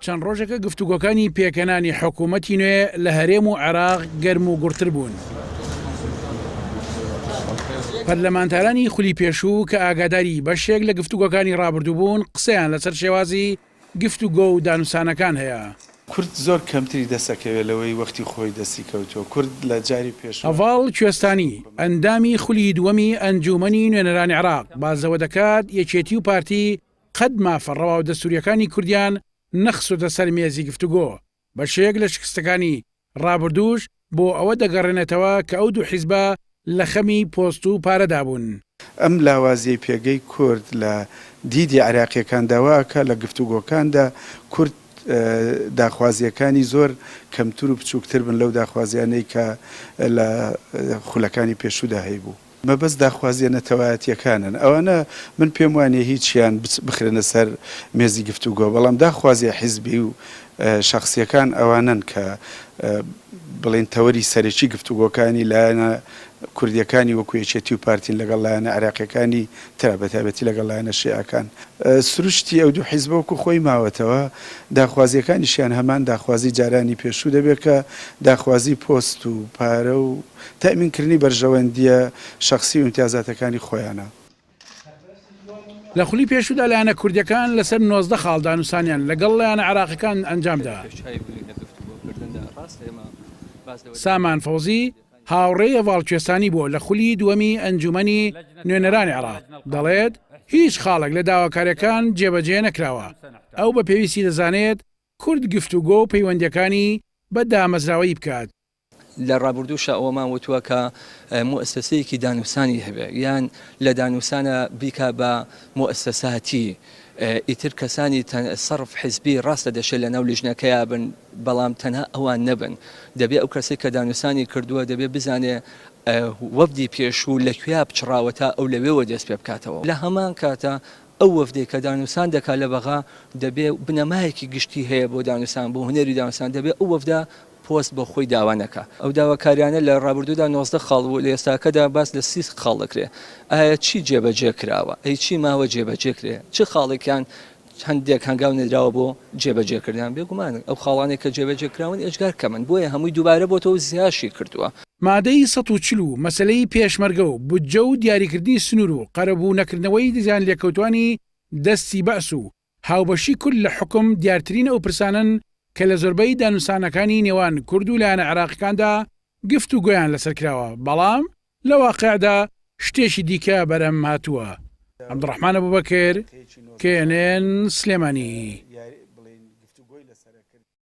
چەند ڕۆژێکە گفتوگۆکانی پێکەنانی حکوومەتی نوێ لە هەرێم و عێراق گەرم و گوڕتر بوون. پەرلەمانتارانی خولی پێشوو کە ئاگاداری بەشێک لە گفتوگۆکانی ڕابردوو بوون قسەیان لەسەر شێوازی گفتوگۆ و دانوسانەکان هەیە. کورد زۆر کەمتری دەسەکەوێت لەوەی وەختی خۆی دەستی کەوتووە. کورد لە جاری پێشوو. هەڤاڵ کوێستانی، ئەندامی خولی دووەمی ئەنجوومەنی نوێنەرانی عێراق باس لەوە دەکات، یەکێتی و پارتی، قەت مافە ڕەوا و دەستوورییەکانی کوردیان نەخستۆتە سەر مێزی گفتوگۆ، بەشێک لە شکستەکانی ڕابردووش بۆ ئەوە دەگەڕێنێتەوە کە ئەو دوو حیزبە لە خەمی پۆست و پارەدا بوون. ئەم لاوازییەی پێگەی کورد لە دیدی عێراقییەکاندا وا ئەکات لە گفتوگۆکاندا کورد داخوازییەکانی زۆر کەمتر و بچووکتر بن لەو داخوازییانەی کە لە خولەکانی پێشوودا هەیبوو. مەبەست داخوازیە نەتەوایەتیەکانن ئەوانە من پێم وانیە هیچیان بخرێنە سەر مێزی گفتوگۆ بەڵام داخوازیە حیزبی و شەخسیەکان ئەوانەن کە بڵێن تەوەری سەرەکی گفتوگۆکانی لایەنە کوردیەکانی وەکو یەکێتی و پارتین لەگەڵ لایەنە عێراقیەکانی ترا بەتایبەتی لەگەڵ لایەنە شیعەکان سروشتی ئەو دوو حیزبە وەکو خۆی ماوەتەوە داخوازیەکانیشیان هەمان داخوازی جارانی پێشوو دەبێت کە داخوازی پۆست و پارە و تەئمین کردنی بەرژەوەندییە شەخسی و ئیمتیازاتەکانی خۆیانە. لە خولی پێشوودا لایەنە کوردییەکان لەسەر نۆزدە خاڵ دانوسانیان لەگەڵ لایەنە عێراقیەکان ئەنجامدا. سامان فەوزی، هاوڕێی هەڤاڵ کوێستانی بووە لە خولی دووەمی ئەنجوومەنی نوێنەرانی عێراق، دەڵێت، هیچ خاڵێک لە داواکارییەکان جێبەجێ نەکراوە، ئەو بە پێویستی دەزانێت کورد گفتوگۆ و پەیوەندییەکانی بە دامەزراوەیی بکات لە ڕابوردووشا ئەوەمان وتووە کە موئەسەسەیەکی دانوسانی هەبێ یان لە دانوسانە بیکا بە موئەسەساتی ئیتر کەسانی سەرف حزبی ڕاستە دەشێ لەناو لیژنەکەیا بن بەڵام تەنها ئەوان نەبن دەبێ ئەو کەسەی کە دانوسانی کردووە دەبێ بزانێ وەفدی پێشوو لە کوێیا پچڕاوە تا ئەو لەوێوە دەست پێ بکاتەوە لە هەمان کاتا ئەو وەفدەی کە دانوسان دەکا لە بەغا دەبێ بنەمایەکی گشتی هەیە بۆ دانوسان بۆ هونەری دانوسان دەبێ ئەو وەفدە پۆست بۆ خۆی داوا نەکا. ئەو داواکاریانە لە ڕابردوودا نۆزدە خاڵ بوو، لە ئێستاکەدا باس لە سی خاڵ دەکرێت. ئایا چی جێبەجێ کراوە؟ ئەی چی ماوە جێبەجێ کرێ؟ چ خاڵێکیان هەندێک هەنگاو نەدراوە بۆ جێبەجێکردنیان؟ بێگومان ئەو خاڵانەی کە جێبەجێ کراون ئێجگار کەمن، بۆیە هەمووی دووبارە بۆتەوە و زیاشی کردووە. مادەی سەد و چل و مەسەلەی پێشمەرگە و بودجە و دیاریکردنی سنوور و قەرەبوو نەکردنەوەی زیانلێکەوتوانی دەستی بەعس و هاوبەشی کورد لە حوکم دیارترین ئەو پرسانەن کە لە زۆربەی دانوسانەکانی نێوان کورد و لایەنە عێراقیکاندا گفت و گۆیان لەسەر کراوە بەڵام لە واقیعدا شتێکی دیکە بەرهەم هاتووە. عەبدوڕەحمان ئەبوبەکر، knn، سلێمانی.